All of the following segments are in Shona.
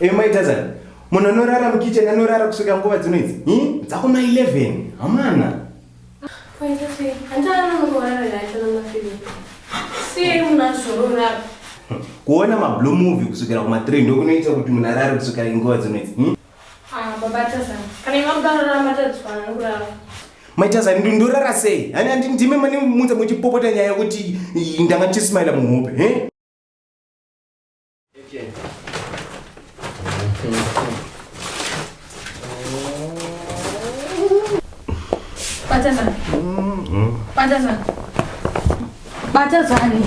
Hey, my cousin. munhu anorara mukitchen anorara kusvika nguva dzino idzi i dzakuma 11 hamana kuona mablue movie kusvikira kuma 3 ndokunoita kuti munhu arare kusvika nguva dzino idzi Ah, baba Tazani. Kana imwe mudarara matadzwana nokurara. Mai Tazani ndo- ndorara sei? Hani handi ndime mane munza muchipopota nyaya yekuti i- ndanga ndichismaila muhope. He? Batazani. Batazani. Batazani.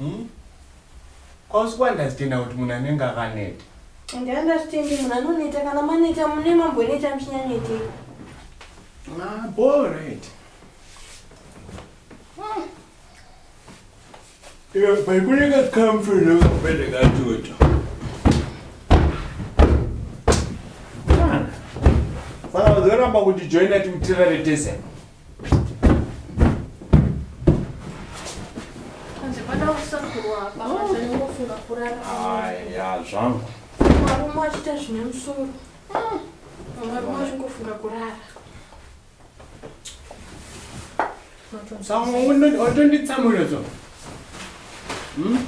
Umm kwausi kwandazitenda kuti munhu anenge akaneta. Ende handazvitendi munhu anoneta kana maneta mune mamboneta muchinyanyeteka. Haa bhoo right. Iwe baikunenge kamfu nekapende katoto. Saka uzoramba kuti joina timutirare tese. Aya zvangu. Marume achita zvine musoro. Marume achingofunga kurara. Saka watonditsamwira so. Hmm?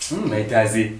Hmm, maitazi.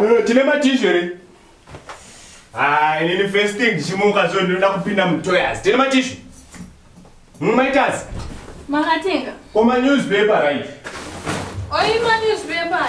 Eh, tine matishu here ah, inini first thing ndichimuka so ndinoda kupinda mutoyas tine matishu hmm, maitas makatenga koma newspaper right oima newspaper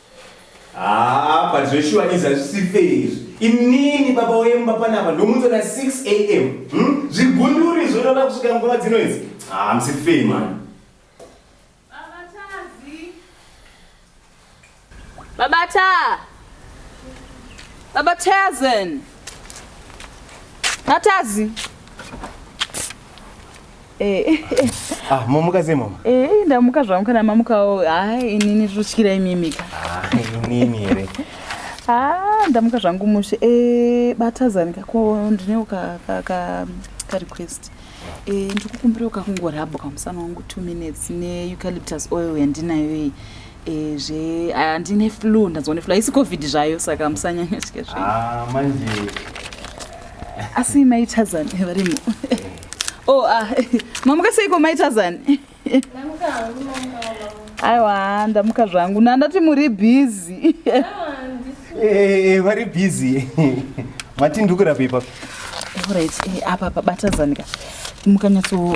Haa but zveshuwa izvi hazvisi fair izvi. Inini baba wemba panapa ndomunzwa na 6 am. Hmm? Zvigunduri izvo unoda kusvika nguva dzino idzi. Haa hamsi fair mani. Baba Taa. Baba Tazen. Natazi. Eh. Ah, mamuka sei mama? Eh, ndamuka zvangu kana mamukawo. Ah, inini zvotyira imimika. Ah, inini here. Ah, ndamuka zvangu mushe. Eh, batazani kako ndinewo ka ka ka, ka request. Eh, ndikukumbira ukakungo rabo kamusana wangu 2 minutes ne eucalyptus oil yandinayo iyi. Eh, zve handine flu ndanzwa neflu haisi covid zvayo saka musanyanya tya zve Ah, manje asi maitazani varimo o ah, mamuka seiko maitazani aiwa ndamuka zvangu nandati muri bhizi Eh, vari busy mati ndikurape ipapo orit eh, apa pabatazani ka mukanyatso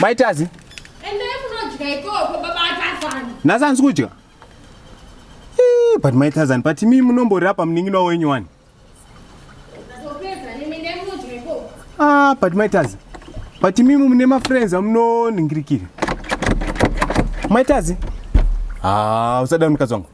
Mai Tazi. Endai kunodya ikoko baba Tazani. Nhasi hanzi kudya. Eh, but mai Tazani, but imi munomborira pamunin'ina wenyu wani? Ah, but mai Tazi. But imi mune ma friends amunoningirikira. Mai Tazi. Ah, usada mukadzi wangu.